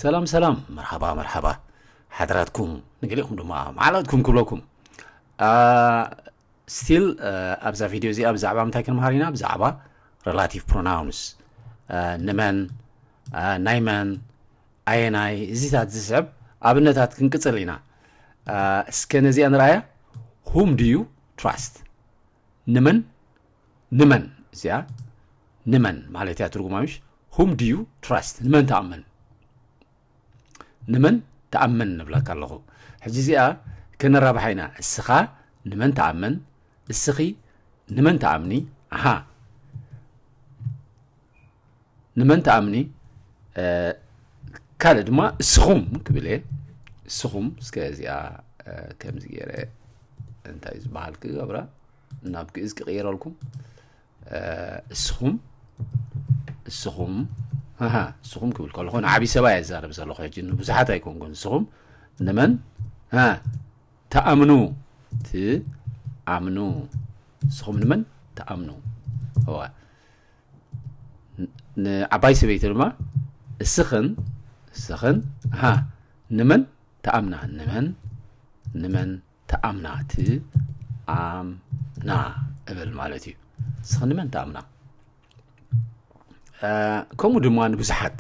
ሰላም ሰላም መርሓባ መርሓባ ሓድራትኩም ንገሊኹም ድማ መዓላትኩም ክብለኩም ስቲል ኣብዛ ቪድዮ እዚኣ ብዛዕባ ምንታይ ክንምሃር ኢና ብዛዕባ ሬላቲቭ ፕሮናውንስ ንመን ናይ መን ኣየናይ እዚታት ዝስዕብ ኣብነታት ክንቅፅል ኢና እስከ ነዚኣ ንርኣያ ሁም ድዩ ትራስት ንመን ንመን እዚኣ ንመን ማለት እያ ትርጉማ ምሽ ሁም ድዩ ትራስት ንመን ተኣመን ንመን ተኣመን ንብለካ ኣለኹ ሕጂ እዚኣ ከነራብሓ ኢና እስኻ ንመን ተኣመን እስኺ ንመን ተኣምኒ ኣሃ ንመን ትኣምኒ ካልእ ድማ እስኹም ክብል እየ እስኹም እስከ እዚኣ ከምዚ ገይረ እንታይ ዝበሃል ክገብራ ናብ ግእዝ ክቕይረልኩም እስኹም እስኹም እስኹም ክብል ከለኹ ንዓብዪ ሰባ እየ ዛረብ ዘለኹ ሕጂ ንብዙሓት ኣይኮንኩን እስኹም ንመን ተኣምኑ ትኣምኑ እስኹም ንመን ተኣምኑ እዋ ንዓባይ ሰበይቲ ድማ እስኽን እስኽን ሃ ንመን ተኣምና ንመን ንመን ተኣምና ትኣምና እብል ማለት እዩ እስኽን ንመን ተኣምና ከምኡ ድማ ንብዙሓት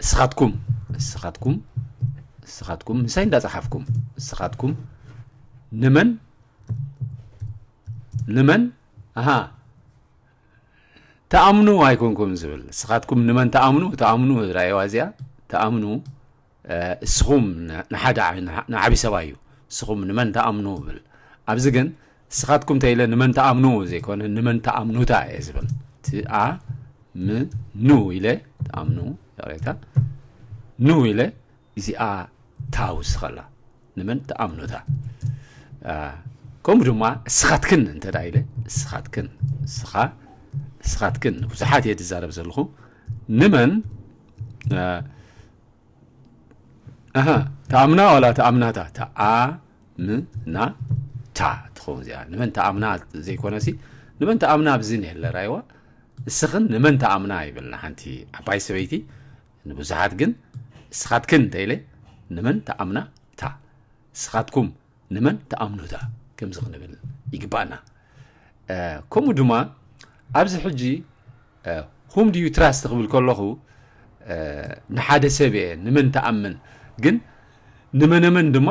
እስኻትኩም እስኻትኩም እስኻትኩም ምሳይ እንዳፀሓፍኩም እስኻትኩም ንመን ንመን ኣሃ ትኣምኑ ኣይኮንኩም ዝብል ንስኻትኩም ንመን ትኣምኑ ትኣምኑ ራእዋ እዚኣ ትኣምኑ እስኹም ንሓደ ንዓብዪ ሰብኣይ እዩ እስኹም ንመን ትኣምኑ ብል ኣብዚ ግን ንስኻትኩም ተኢለ ንመን ትኣምኑ ዘይኮነ ንመን ትኣምኑታ እየ ዝብል ትኣምኑ ኢለ ትኣምኑ ይቕሬታ ኑ ኢለ እዚኣ ታውስኸላ ንመን ትኣምኑታ ከምኡ ድማ እስኻትክን እንተ ኢለ እስኻትክን እስኻ እስኻትክን ንብዙሓት እየ ዝዛረብ ዘለኹ ንመን ተኣምና ዋላ ተኣምናታ ተኣምናታ ትኸውን እዚኣ ንመን ተኣምና ዘይኮነሲ ንመን ተኣምና ኣብዚ ነለ ራይዋ እስኽን ንመን ተኣምና ይብልና ሓንቲ ዓባይ ሰበይቲ ንብዙሓት ግን እስኻትክን ተይለ ንመን ተኣምና እታ እስኻትኩም ንመን ተኣምኑ እታ ከምዚ ክንብል ይግባኣና ከምኡ ድማ ኣብዚ ሕጂ ሁም ድዩ ትራስት ክብል ከለኹ ንሓደ ሰብ እየ ንመን ተኣምን ግን ንመነመን ድማ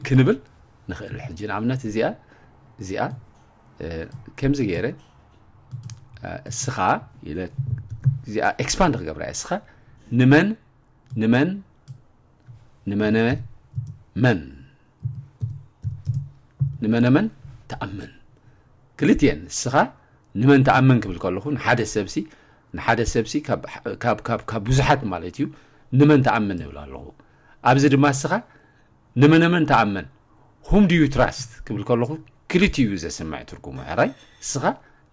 ክንብል ንኽእል ሕጂ ንኣብነት እዚኣ እዚኣ ከምዚ ገይረ እስኻ ኢለ እዚኣ ኤክስፓንድ ክገብራ እየ እስኻ ንመን ንመን ንመነ መን ንመነ መን ተኣምን ክልትኤን እስኻ ንመን ተኣምን ክብል ከለኹ ንሓደ ሰብሲ ንሓደ ሰብሲ ካብ ብዙሓት ማለት እዩ ንመን ተኣምን ይብል ኣለኹ ኣብዚ ድማ እስኻ ንመነመን ትኣምን፣ Whom do you trust፣ ክብል ከለኹ ክልቲኡ እዩ ዘስምዕ ትርጉሙ፣ ሕራይ እስኻ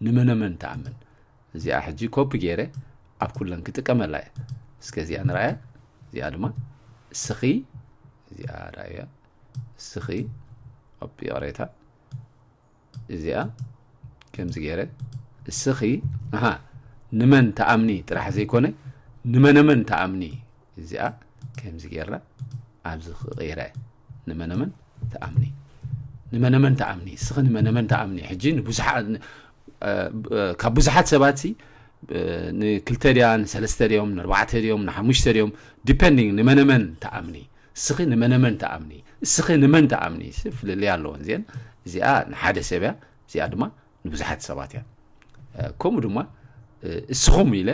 ንመነመን ትኣምን። እዚኣ ሕጂ ኮፒ ገይረ ኣብ ኩለን ክጥቀመላ እየ። እስከ እዚኣ ንርኣያ፣ እዚኣ ድማ እስኺ፣ እዚኣ ርኣያ እስኺ፣ ይቕሬታ እዚኣ ከምዚ ገይረ እስኺ ኣሃ ንመን ተኣምኒ ጥራሕ ዘይኮነ ንመነመን ተኣምኒ እዚኣ ከምዚ ገይራ ኣብዚ ክቕይረ ንመነመን ተኣምኒ ንመነመን ተኣምኒ እስኺ ንመነመን ተኣምኒ ሕጂ ንብዙሓት ካብ ብዙሓት ሰባት ሲ ንክልተ ድያ ንሰለስተ ድዮም ንኣርባዕተ ድዮም ንሓሙሽተ ድዮም ዲፐንዲንግ ንመነመን ተኣምኒ እስኺ ንመነመን ትኣምኒ እስኺ ንመን ትኣምኒ ፍልልይ ኣለወን እዚአን እዚኣ ንሓደ ሰብ እያ እዚኣ ድማ ንብዙሓት ሰባት እያ ከምኡ ድማ እስኹም ኢለ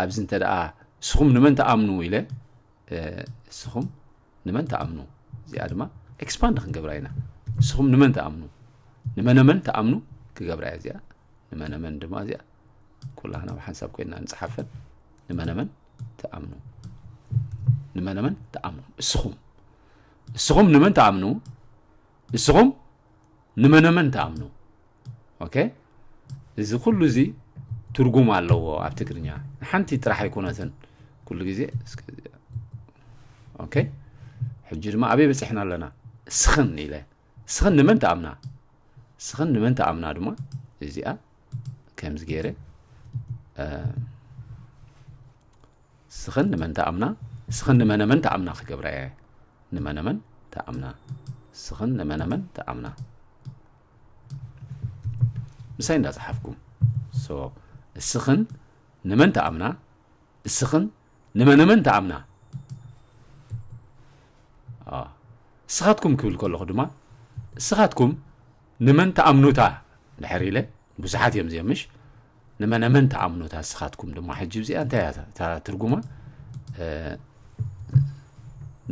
ኣብዚ እንተ ደኣ እስኹም ንመን ተኣምኑ ኢለ እስኹም ንመን ተኣምኑ እዚኣ ድማ ኤክስፓንድ ክንገብራ ኢና እስኹም ንመን ተኣምኑ ንመነመን ተኣምኑ ክገብራ እያ እዚኣ ንመነመን ድማ እዚኣ ኩላህና ብሓንሳብ ኮይና ንፅሓፈን ንመነመን ትኣምኑ ንመነመን ትኣምኑ እስኹም እስኹም ንመን ትኣምኑ እስኹም ንመነመን ትኣምኑ ኦኬ እዚ ኩሉ እዚ ትርጉም ኣለዎ ኣብ ትግርኛ ንሓንቲ ጥራሕ ኣይኮነትን ኩሉ ግዜ ኦኬ ሕጂ ድማ ኣበይ በፂሕና ኣለና እስኽን ኢለ እስኽን ንመን ትኣምና እስኽን ንመን ትኣምና ድማ እዚኣ ከምዚ ገይረ ስኽን ንመን ተኣምና ስኽን ንመነመን ተኣምና ክገብራ እየ ንመነመን ተኣምና ስኽን ንመነመን ተኣምና ምሳይ እንዳፀሓፍኩም እስኽን ንመን ተኣምና እስኽን ንመነመን ተኣምና እስኻትኩም ክብል ከለኹ ድማ እስኻትኩም ንመን ትኣምኑታ ድሕር ኢለ ብዙሓት እዮም እዚኦም ምሽ ንመነመን ትኣምኑታ እስኻትኩም ድማ ሕጂ እዚኣ እንታይ እያ እታ ትርጉማ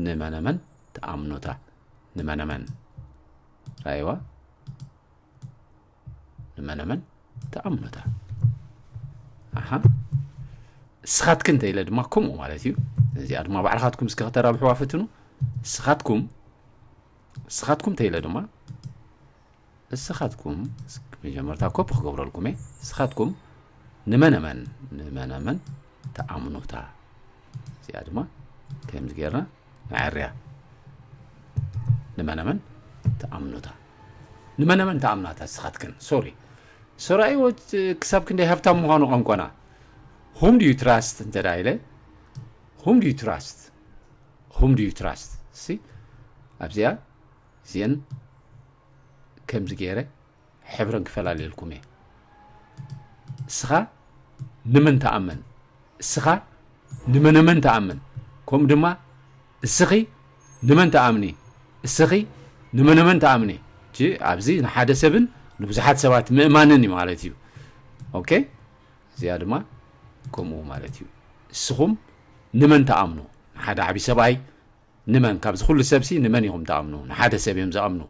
ንመነመን ትኣምኑታ ንመነመን ራይዋ ንመነመን ትኣምኑታ ኣሓ እስኻትክን እንተኢለ ድማ ከምኡ ማለት እዩ እዚኣ ድማ ባዕልኻትኩም እስከ ከተራብሕዋ ፍትኑ እስኻትኩም ንስኻትኩም ተይለ ድማ ንስኻትኩም መጀመርታ ኮፒ ክገብረልኩም እየ ንስኻትኩም ንመነመን ንመነመን ተኣምኑታ እዚኣ ድማ ከምዚ ጌርና ንዐርያ ንመነመን ተኣምኑታ ንመነመን ተኣምናታ ንስኻትክን ሶሪ ሰራይዎ ክሳብ ክንደይ ሃብታም ምዃኑ ቋንቋና ሁም ድዩ ትራስት እንተ ኢለ ሁም ድዩ ትራስት whom do you trust እስቲ ኣብዚኣ እዚአን ከምዚ ገይረ ሕብረን ክፈላለየልኩም እየ እስኻ ንመን ተኣመን እስኻ ንመነመን ተኣመን ከምኡ ድማ እስኺ ንመን ተኣምኒ እስኺ ንመነመን ተኣምኒ እቲ ኣብዚ ንሓደ ሰብን ንብዙሓት ሰባት ምእማንን እዩ ማለት እዩ ኦኬ እዚኣ ድማ ከምኡ ማለት እዩ እስኹም ንመን ተኣምኑ ንሓደ ዓቢ ሰብኣይ ንመን ካብዚ ኩሉ ሰብሲ ንመን ኢኹም ትኣምኑ ንሓደ ሰብ እዮም ዝኣምኑ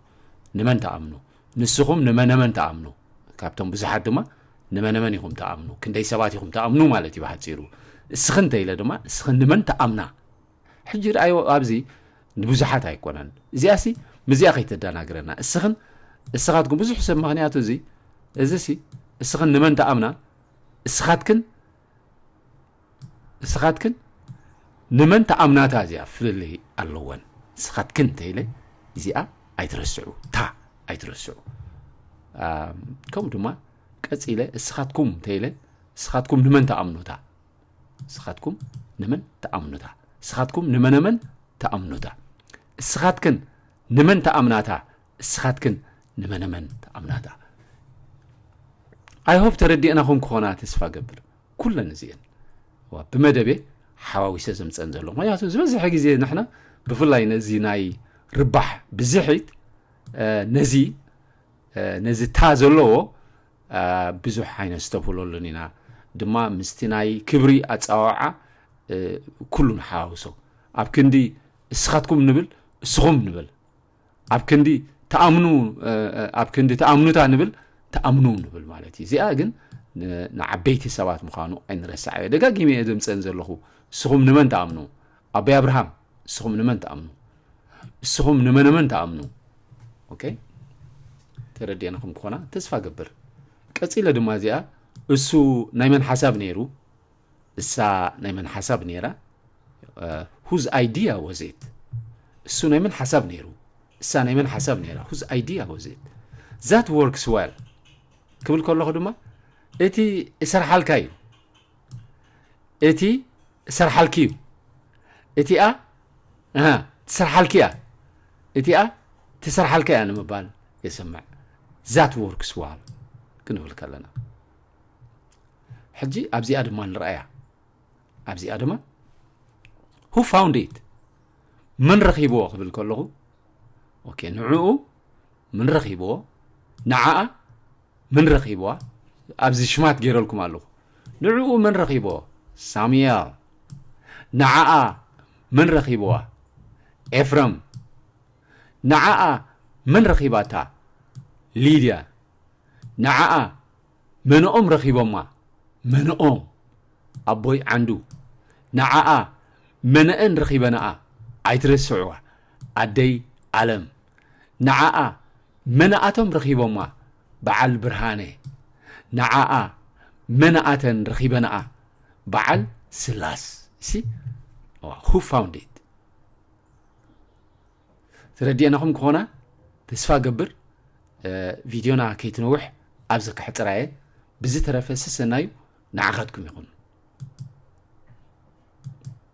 ንመን ትኣምኑ ንስኹም ንመነመን ትኣምኑ ካብቶም ብዙሓት ድማ ንመነመን ኢኹም ትኣምኑ ክንደይ ሰባት ኢኹም ትኣምኑ ማለት እዩ ብሓጺሩ እስኺ እንተኢለ ድማ እስኺ ንመን ትኣምና ሕጂ ድኣዮ ኣብዚ ንብዙሓት ኣይኮነን እዚኣሲ ምዚኣ ከይተደናግረና እስኽን እስኻትኩም ብዙሕ ሰብ ምክንያቱ እዚ እዚሲ እስኽን ንመን ትኣምና እስኻትክን እስኻትክን ንመን ተኣምናታ እዚኣ ፍልልይ ኣለወን እስኻትክን ተይለ እዚኣ ኣይትረስዑ ታ ኣይትረስዑ ከምኡ ድማ ቀፂለ እስኻትኩም ተይለ እስኻትኩም ንመን ተኣምኑታ እስኻትኩም ንመን ተኣምኑታ እስኻትኩም ንመነመን ተኣምኑታ እስኻትክን ንመን ተኣምናታ እስኻትክን ንመነመን ትኣምናታ ኣይሆብ ተረዲእናኹም ክኾና ተስፋ ገብር ኩለን እዚኤን ብመደቤ ሓዋዊሰ ዘምፀን ዘሎ ምክንያቱ ዝበዝሐ ግዜ ንሕና ብፍላይ ነዚ ናይ ርባሕ ብዝሒት ነዚ ነዚ እታ ዘለዎ ብዙሕ ዓይነት ዝተብህለሉን ኢና ድማ ምስቲ ናይ ክብሪ ኣፀዋውዓ ኩሉ ንሓዋውሶ ኣብ ክንዲ እስኻትኩም ንብል እስኹም ንብል ኣብ ክንዲ ተኣምኑ ኣብ ክንዲ ተኣምኑታ ንብል ተኣምኑ ንብል ማለት እዩ እዚኣ ግን ንዓበይቲ ሰባት ምዃኑ ኣይንረሳዕ እየ ደጋጊመ እየ ዘምፀን ዘለኹ እስኹም ንመን ተኣምኑ ኣበይ ኣብርሃም እስኹም ንመን ተኣምኑ እስኹም ንመነመን ተኣምኑ ኦኬ ተረዲአንኹም ክኾና ተስፋ ገብር ቀፂለ ድማ እዚኣ እሱ ናይ መን ሓሳብ ነይሩ እሳ ናይ መን ሓሳብ ነይራ? ሁዝ ኣይዲያ ወዝ ኢት? እሱ ናይ መን ሓሳብ ነይሩ? እሳ ናይ መን ሓሳብ ነይራ? ሁዝ ኣይዲያ ወዝ ኢት? ዛት ወርክስ ዌል ክብል ከለኹ ድማ እቲ እሰርሓልካ እዩ እቲ እሰርሓልኪ እዩ እቲኣ ትሰርሓልኪ እያ እቲኣ ትሰርሓልካ እያ ንምባል የስምዕ ዛት ወርክስ ዋል ክንብል ከለና ሕጂ ኣብዚኣ ድማ ንርኣያ ኣብዚኣ ድማ ሁ ፋውንድ ኢት መን ረኺብዎ ክብል ከለኹ ኦኬ ንዕኡ ምን ረኺብዎ ንዓኣ ምን ረኺብዋ ኣብዚ ሽማት ገይረልኩም ኣለኹ ንዕኡ መን ረኺብዎ ሳሙኤል ንዓኣ መን ረኺብዋ ኤፍረም ንዓኣ መን ረኺባታ ሊድያ ንዓኣ መንኦም ረኺቦማ መንኦም ኣቦይ ዓንዱ ንዓኣ መነኣን ረኺበናኣ ኣይትረስዕዋ ኣደይ ኣለም ንዓኣ መነኣቶም ረኺቦማ በዓል ብርሃነ ንዓኣ መነኣተን ረኺበናኣ በዓል ስላስ ሲ ሁ ፋውንድ ኢት ተረዲኤናኹም ክኾና ተስፋ ገብር ቪድዮና ከይትነውሕ ኣብዚ ከሕፅራ እየ ብዝተረፈ ስሰናዩ ንዓኻትኩም ይኹን